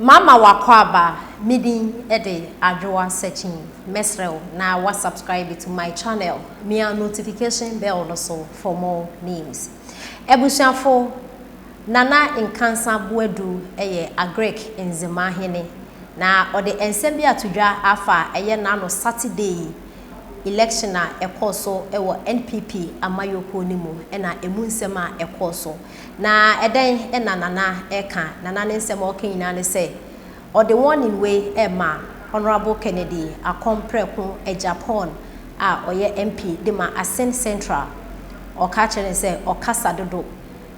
Mama w'akwaaba, me din de Adwoa Sekyin, mɛsrɛ wo na wa subscribe to my channel, mia notification bell no so for more news. Abusuafo, Nana Nkansah Boadu yɛ Agric ndzema hene, na ɔde nsɛm bi ato dwa afa ɛyɛ n'ano Saturday yi election a ɛkɔɔ so wɔ NPP amayɔkuo no mu na ɛmu nsɛm a ɛkɔɔ so. Na ɛdɛn na Nana reka? Nana ne nsɛm a ɔreka nyinaa ne sɛ ɔde warning wei rema Honourable Kennedy Akon Prɛko Agyapong a ɔyɛ MP de ma Asin Central. Ɔreka kyerɛ no sɛ ɔkasa dodo,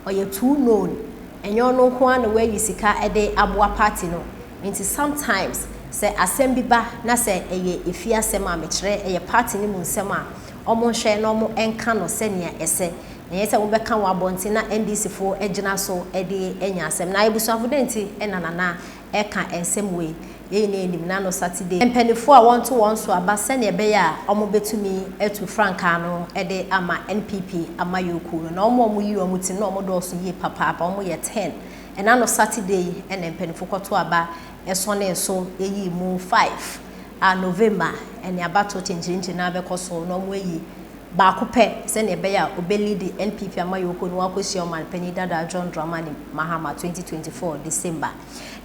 ɔyɛ too known, ɛnyɛ ɔno nko ara na wayi sika de aboa party no, nti sometimes sɛ asɛm bi ba na sɛ ɛyɛ efie asɛm a mekyerɛ ɛyɛ party no mu nsɛm a, wɔnhwɛ na wɔnka no sɛnea ɛsɛ Ɛnyɛ sɛ wobɛka wɔ abɔnten na NDC foɔ agyina so de anya asɛm. Na abusuafo dɛn nti na Nana reka nsɛm wei? Yɛn nyinaa nim na no Saturday mpaninfoɔ a wɔnto wɔn so aba sɛnea ɛbɛyɛ a wɔbɛtumi atu frankaa no de ama NPP amayɔkuo no. Na wɔn a wɔyi wɔn ti no na wɔdɔɔso yie papaapa, wɔn yɛ ten. Ɛna no Saturday yi na mpaninfoɔ kɔto aba sɔnee so yii mu five a November ɛne abatoɔ kyenkyerenkye no ara bɛkɔ so na wɔayi baako pɛ sɛnea ɛbɛyɛ a ɔbɛliidi NPP amayɔkuo no akɔhyia Ɔman Panin Dada John Dramani Mahama 2024 December.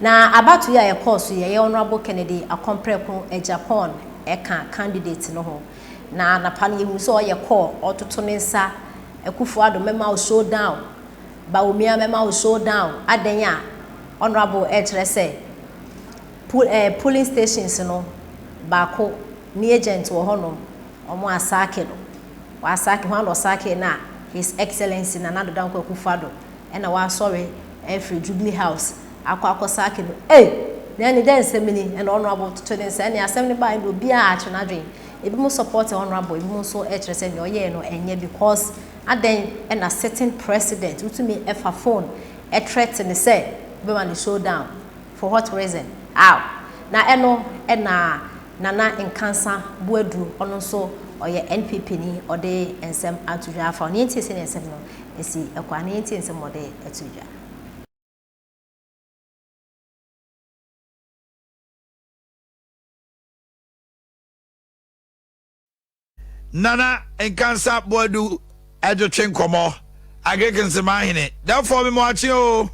Na abatoɔ yi a ɛkɔɔ so yi ɛyɛ Honourable Kennedy Akɔmprɛko Agyapong ɛka candidate no ho. Na anapa no yɛhuu sɛ ɔyɛ kɔɔ ɔtoto ne nsa Akufo Addo mɛma wo show down, Bawumia mɛma wo show down, adɛn a Honourable ɛrekyerɛ sɛ poll ɛɛ polling stations no baako Ne agent wɔ hɔ nom ɔmo asaake no w'asaake hwan na ɔsaakee no a his excellency Nana Addo Dankwa Akuffo Addo ɛna w'asɔre afiri jubilee house akɔ akɔ saake no ei na ɛne dɛn nsɛm ni ɛna honourable toto ne nsa ɛne asɛm no baeɛ no obiaa atwe n'adwen ebi mo support honourable ebi mo nso ɛkyerɛ sɛ nea ɔyɛɛ no ɛnyɛ because adɛn ɛna sitting president wotumi ɛfa phone ɛtrɛte ne sɛ wobɛma no show down for what reason aw na ɛno ɛna Nana Nkansa Boadu, ɔno nso ɔyɛ NPP ni, ɔde nsɛm ato dwa afa ho. Yɛntie sɛnea nsɛm no si kɔ ara na yɛntie nsɛm a ɔde too dwa. Nana Nkansa Boadu de twe nkɔmmɔ. Agric Nsema Ahene, dɛfoɔ me moakye o.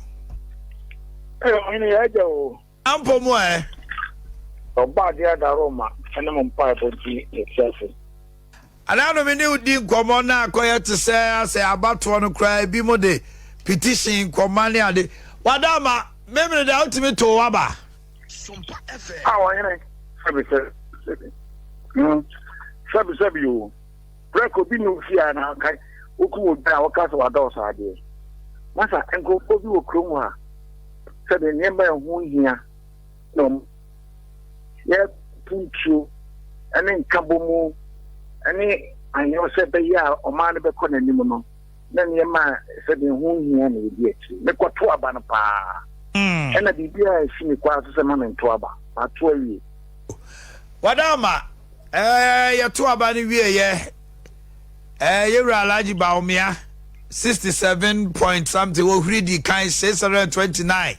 Ɛ ɔhene yɛ agya o. Ampo mu ɛ. Ɔba adeɛ ada Roma ɛne mo mpa ɛbɔ di ɛti ase. Anaano me ne wo di nkɔmmɔ na akɔyɛ te sɛ asɛ abatoɔ no koraa ebi mo de petition nkɔma ne ade. Wada ama, memene de a wotumi too waba. A Ɔhene, sɛbesɛbe, mm, sɛbesɛbe o, prɛko bi na ofii a na anka wokum odwan a wɔka sɛ wadɔɔso adeɛ. Masa, nkurɔfoɔ bi wɔ kurom hɔ a, sɛdeɛ nneɛma a ɛho hia na wɔn yɛ puntuo ne nkabɔmu ne anwonsɛ bɛyɛ a ɔman no bɛkɔ n'anim no, na nneɛma a ɛsɛ dɛn ho hia na edi akyiri. Mekɔto aba no paa. Ɛna biribiara ansi me kwan so sɛ mma mento aba. Mato awie. Wada ama. Ɛɛ, yɛto aba no wieeɛ. Ɛɛ, yɛn wura Alhaji Bawumia, 67 point something, ohuri di kan, 629.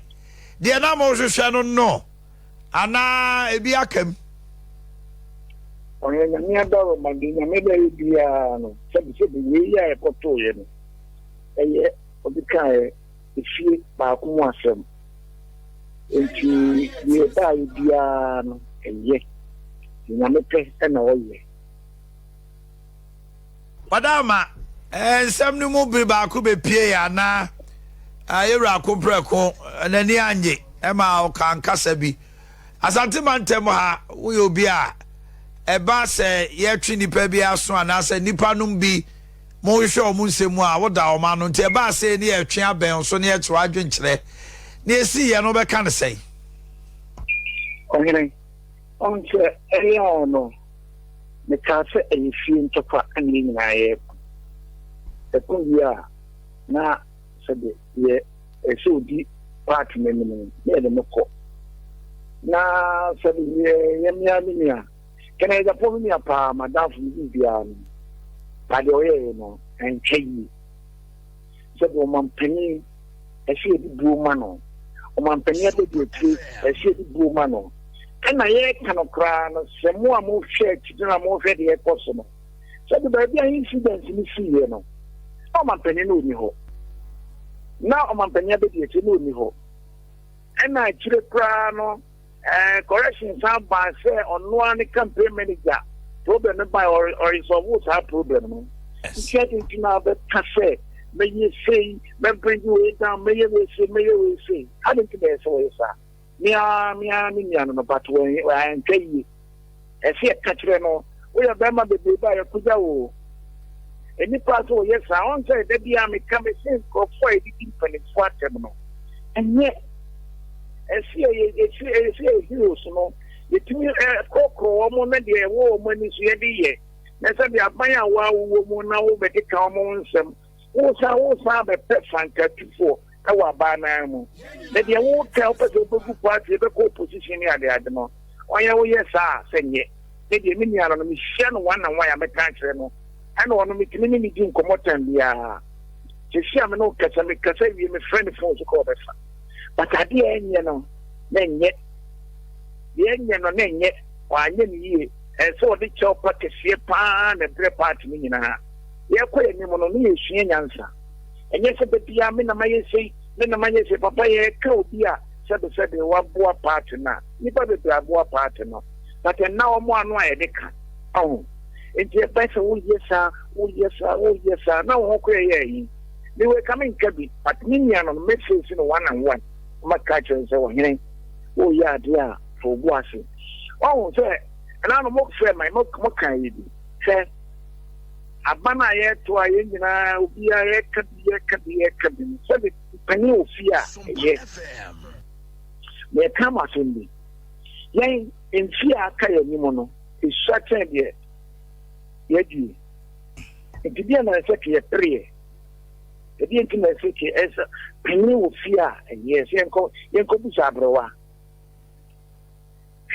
Deɛ na mohwehwɛ no no. Anaa ebi aka mu. Ɔyɛ Nyame adaworoma, deɛ Nyame de ayɛ biara no, sɛbesɛbe wei yi a ɛkɔtooeɛ no, ɛyɛ ɔde kaeɛ efie baako mu asɛm. Enti deɛ ɛbaeɛ biara no, ɛyɛ. Deɛ Nyame pɛ na ɔyɛ. Ɔda ama nsɛm no mu bere baako bepue a na yɛn wura ko prɛko n'ani annye ma ɔka nkasa bi. Asante mantam ha woyɛ obi a ɛba sɛ yɛtwe nnipa bi aso anaasɛ nnipa nom bi mohwehwɛ wɔn nsɛm mu a woda wɔn ano nti ɛba sɛ ne yɛtwe abɛn so ne yɛkyerɛ adwenkyerɛ ne esi yɛ no bɛka ne sɛn. Ɔhene, ɔnkyɛ ɛyɛ ɔno. Mekaa sɛ ɛyɛ fie ntɔkwa na yɛn nyinaa yɛko. Ɛko wie a, na sɛdeɛ yɛ ɛsɛ sɛ ɔdi part no anim no, na yɛde no kɔ. Na sɛdeɛ yɛ yɛ mmea me nua, kɛnɛ Japon me nua paa, m'adamfo, me biribiara no, na deɛ ɔyɛeɛ no, antwa yie. sɛdeɛ ɔmanpanin ɛsɛ yɛde buo ma no, ɔmanpanin abadiakyire ɛsɛ yɛde buo ma no. Ɛna yɛreka no koraa no, sɛ mo a mohwɛ akyiri na mohwɛ deɛ ɛkɔ so no, sɛ de baabi a incident no siiɛ no, na ɔmanpanin no ɔni hɔ, na ɔmanpanin abadiakyire no ɔni hɔ, ɛna akyire koraa no, Koresh san bae sɛ ɔno ara ne campaign manager. Problem no bae, ɔresɔlvo saa problem no. Nti adɛn nti na wobɛka sɛ mɛyɛ sei, mɛbringi wei down, mɛyɛ wei sei, mɛyɛ wei sei? Adɛn nti na ɛsɛ sɛ wɔyɛ saa? Me ara, me ara ne nua no no, but wantwa yie. Ɛseɛ ka kyerɛ no, Woyɛ barima bebrebe a yɛakɔgya wo. Nnipa a sɛ wɔyɛ saa, ɔn sɛ da biara meka mese nkurɔfoɔ a yɛdidi mpanimfoɔ atɛm no, ɛnyɛ ɛseɛ yɛ ɛseɛ yɛ heroes no, yɛtumi korɔkorɔ wɔn na deɛ ɛwɔ wɔn ani so yɛde yɛ, na sɛ deɛ aban a wɔawowɔ mu na wobɛkeka wɔn ho nsɛm. Woresan woresan abɛpɛ fankatufoɔ wɔ abaa no ara mu. Na deɛ woreka a wopɛ sɛ wobɛgu party, wobɛkɔ opposition ne adeade no, ɔyɛ woyɛ saa a, sɛ nyɛ. Me deɛ me nua no no, mehyia no one and one a mɛka akyerɛ no. Ɛna ɔno metumi ne no di nkɔmmɔ time biara. Seesei a me ne wo kasa, mekasa wie, mefrɛ no phone so koraa ɔbɛfa. But adeɛ a ɛnyɛ no, na ɛnyɛ. Deɛ ɛnyɛ no, na ɛnyɛ. Wanyɛ no yie. Ɛsɛ sɛ ɔde kyɛwpa kɛseɛ pa ara na ɛbrɛ party no nyinaa. Yɛkɔ yɛn anim no na yɛsua nyansa. Ɛnyɛ sɛ da biara me na mayɛ sei, me na mayɛ sei. Papa yɛreka obi a sɛbesɛbe waboa paate no a, nnipa bebree aboa paate no but ɛnna wɔn ano a yɛde ka. Wahu? Enti ɛbɛyɛ sɛ woyɛ saa, woyɛ saa, woyɛ saa na wo ho koraa yɛ ahi. Me wei ka menka bi but me nua no no me face no one and one na maka akyerɛ no sɛ ɔhene woreyɛ adeɛ a fa wo bo ase. Wahu sɛ ɛnaa no mofrɛ ma mo ka ayi bi. Hwɛ. Aban a yɛreto a yɛn nyinaa obiara reka bi reka bi reka bi no, sɛde panin wɔ fie a ɛyɛ. Meka mo asɛm bi. Yɛn mfie a aka yɛn anim no, esua kyɛn deɛ yɛadie. Nti deɛ na ɛsɛ kɛ yɛpereɛ. Ɛdeɛ nti na ɛsɛ kɛ ɛsɛ panin wɔ fie a ɛyɛ sɛ yɛnkɔ yɛnkɔ bisa aberewa.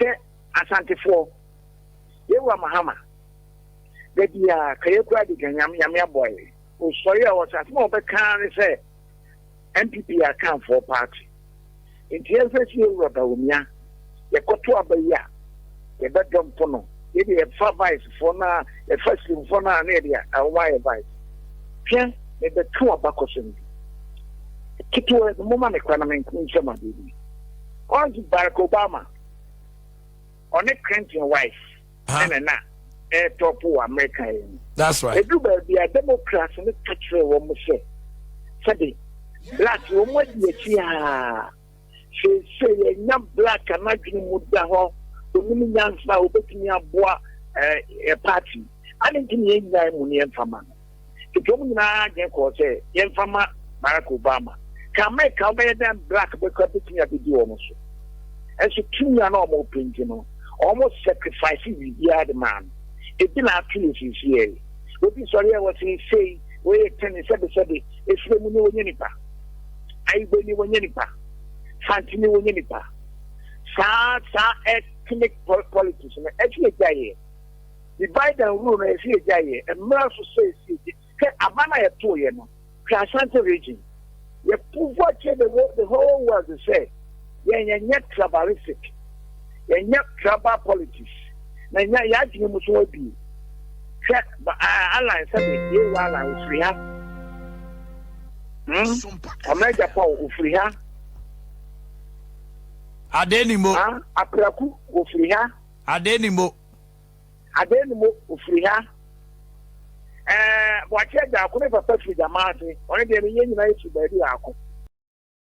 Hwɛ asantefoɔ. Yɛwura Mahama. Da bi a ka yɛ kura de ka nyame nyame aboa yɛ. Osɔre a ɔsɛ asɛm a ɔbɛka ara ne sɛ NPP yɛ akanfoɔ party. Nti yɛnhwɛ sie wura Bawumia. Yɛkɔto aba yi a yɛbɛdɔ mpo no yɛ deɛ yɛfa vice foɔ no a yɛfa slim foɔ no a na yɛde wɔn ayɛ vice. Hwɛ mebɛka w'abakɔsɛm bi ketewa bi moma me kwan na menko nsɛm adeɛ bi. Ɔnse Barack Obama ɔne Clinton wife. ɛna na ɛretɔpo wɔ Amerika yɛ no. That's right. Edu baabi a Democrats no ka kyerɛ wɔn sɛ sɛde black wɔn adi akyi aa sese yɛnya black anadwene mu da hɔ onim nyansa a obetumi aboa ɛɛ eh, eh, party. Adi nti na yɛn nyinaa mu ne yɛn fama no. Ekurom nyinaa adwene kɔɔ sɛ yɛmfa mma Barack Obama. Ka Amerika a wobɛyɛ dɛn black bɛ koraa bɛtumi abɛdi wɔn so. Nanso tumi a na wɔpɛ nti no, wɔn sacrifice biribiara de maa no. Ebi na ato yɛ seesei. Obi sɔre a, wɔse sei, wei yɛ tɛne, sɛbe sɛbe. Efire mu ni wɔnyɛ nipa. Ayibo ni wɔnyɛ nipa. Fante ni wɔnyɛ nipa. Saa saa ethnic politics no, ɛsɛ yɛgyae yɛ. Me bae da nwuruw no esi egya yɛ mmra so sɛ esi egya hwɛ aban a yɛ too yɛ no hwɛ Asante region yɛ povoa kyerɛ the whole the whole world sɛ yɛn yɛ nyɛ tribalistic yɛ nyɛ tribal politics na nya yɛ adwene mu so abie hwɛ ba ah alan sɛ me yɛ wɔ alan ofiri ha hmm ɔmɛ egya pa o ofiri ha Adenimo. Ah, Apraku, Ofriha. Adenimo. Adɛn ne mo ofiri ha? Ɛɛ, mo akyerɛ gyaako ne papa firi dama ase, ɔne deɛ ne yɛn nyinaa yɛfiri baabi baako.